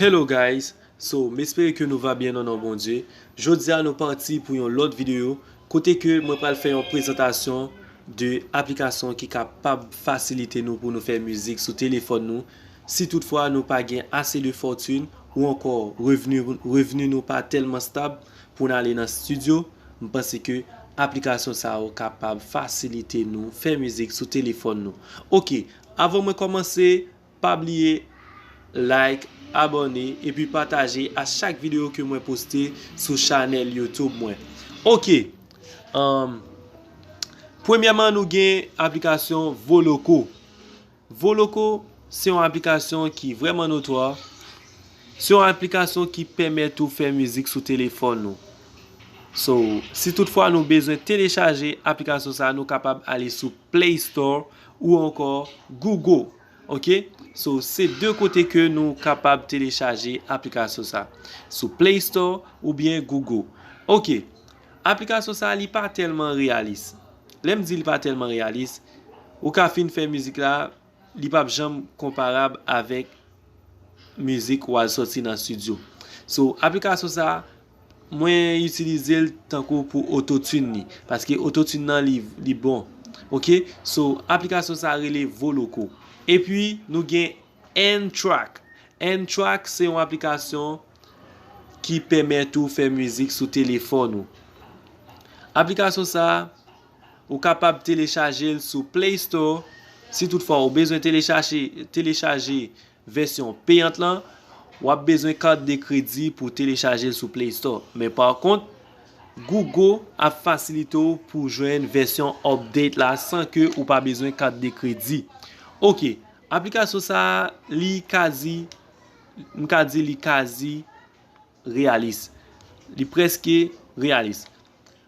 Hello guys so m espere ke nou va byen nan non Bondye jodia nou pati pou yon lòt video kote ke mwen pral fè yon prezantasyon de aplikasyon ki ka pab fasilite nou pou nou fè mizik sou telefòn nou si tout fwa nou pa gen ase de fòtune ou ankò revni revni nou pa tèlman stab pou n ale nan studio m panse ke aplikasyon sa yo ka pab fasilite nou fè mizik sou telefòn nou ok Avan mwen kòmanse pa bliye like, abòne epi pataje a chak videyo ke mwen poste sou chanèl YouTube mwen. Ok! Premyèman nou gen aplikasyon Voloco. Voloco se yon aplikasyon ki vreman notwa. Se yon aplikasyon ki pèmèt ou fè mizik sou telefòn nou. So, si tout fwa nou bezwen telechaje aplikasyon sa nou kapab ale sou Play Store. ou ankò Google ok so se 2 kote ke nou kapab telechaje aplikasyon sa sou play store oubyen Google ok aplikasyon sa li pa tèlman reyalis lèm di li pa tèlman reyalis ou ka fin fè mizik la li pap janm konparab avèk mizik wal sòti nan studio so aplikasyon sa. Mwen itilizel tankou pou ototune li paske ototune nan li bon ok so aplikasyon sa rele voloco epi nou gen N track N track se yon aplikasyon ki pèmèt ou fè mizik sou telefòn ou aplikasyon sa ou kapab telechajel sou play store si tout fwa ou bezwen telechaje telechaje Vèsyon peyant lan, w ap bezwen kat de kredi pou w telechaje l sou Play Store. Men pa kont, Google ap fasilite w pou w jwenn vèsyon update la san ke ou pa bezwen kat de kredi. Ok, aplikasyon sa a li kazi, m ka di li kazi reyalis. Li prèske reyalis.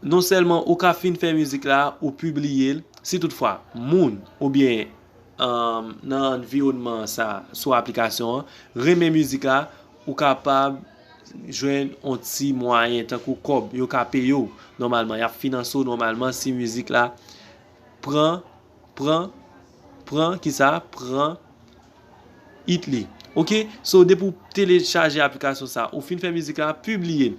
Non sèlman ou ka fin fè mizik la, ou pibliye l, si tout fwa moun oubyen nan anviwònman sa sou aplikasyon an renmen mizik la, ou kapab jwenn yon ti mwayen tankou kòb yo ka peye w nòmalman, y ap finanse w nòmalman si mizik la pran, pran, pran ki sa, pran it li. Ok, so depi w telechaje aplikasyon sa, ou fin fè mizik la, pibliye l.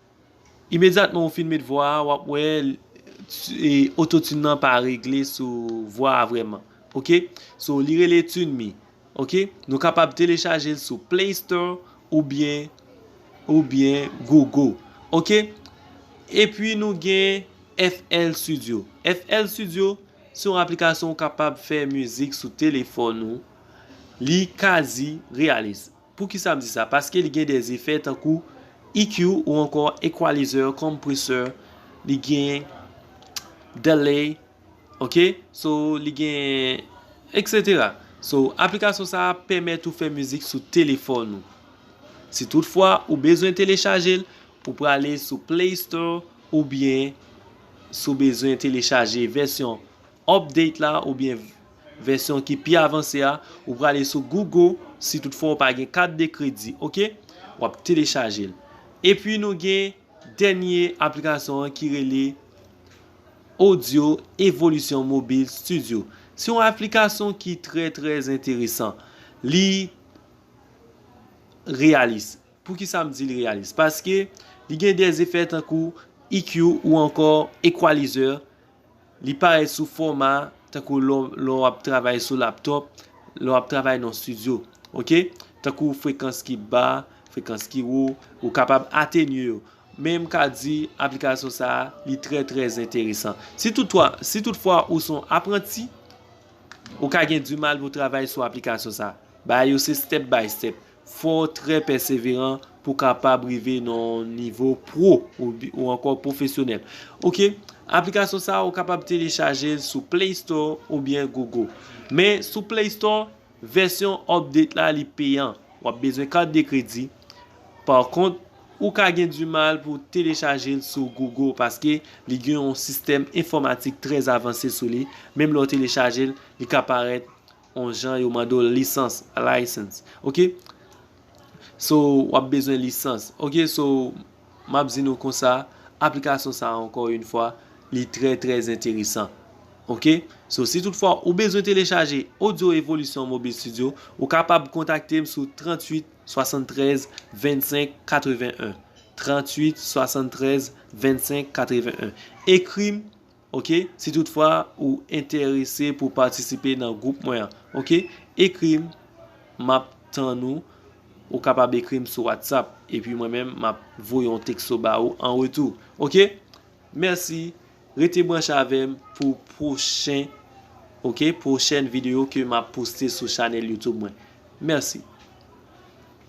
Imedyatman ou fin met vwa a wap wè ototune nan pa regle sou vwa a vrèman ok so li rele tuneme ok nou kapab telechaje l sou play store oubyen oubyen gogo ok epi nou gen FL studio FL studio se yon aplikasyon ou kapab fè mizik sou telefòn ou li kazi reyalis. Poukisa m di sa? Paske li gen de efè tankou EQ ou ankò equalizer, compressor, li gen delay, ok, so li gen etc. So aplikasyon sa a pèmèt ou fè mizik sou telefòn ou. Si tout fwa ou bezwen telechaje l, ou prale sou play store oubyen si w bezwen telechaje vèsyon update la oubyen. Vèsyon ki pi avanse a, ou prale sou Google, si tout fwa ou pa gen kat de kredi, ok. Wap telechaje l. Epi nou gen dènye aplikasyon an ki rele Audio Evolution Mobile Studio. Se yon aplikasyon ki trè trè enteresan. Li reyalis. Poukisa m di li reyalis? Paske li gen de efè tankou EQ ou ankò equalizer Li parèt sou fòma tankou lè w ap travay sou laptop, lè w ap travay nan studio. Ok. Tankou frekans ki ba, frekans ki wo, ou kapab atenye yo. Men m ka di aplikasyon sa a li trè trè enteresan. Si tout fwa ou son apranti, ou ka gen di mal pou travay sou aplikasyon sa a. Bagay yo se step by step. Fò w trè pèseveran pou w kapab rive nan yon nivo pro ou ankò pwofesyonèl. Ok, aplikasyon sa a ou kapab telechaje l sou Play Store oubyen Google. Men sou Play Store, vèsyon update la li peyan. W ap bezwen kat de kredi. Pa kont, ou ka gen di mal pou w telechaje l sou Google paske li gen yon sistèm enfòmatik trè avanse sou li. Menm lè w telechaje l, li ka parèt on jan yo mande w lisans, license, ok so w ap bezwen lisans, ok so m ap di nou konsa aplikasyon sa ankò yon fwa li trè trè enteresan ok so si tout fwa ou bezwen telechaje audio evolisyon mobile studio ou kapab kontakte m sou 38 73 25 81 38 73 25 81 ekri m Ok si tout fwa ou enterese pou patisipe nan group mwen an ok ekrim map tann ou ou kapab ekrim sou whatsapp epi mwen menm map voye yon texto ba ou an retou ok merci rete branche avem pou pwochen ok pwochèn video ke map poste sou chanel youtube mwen merci.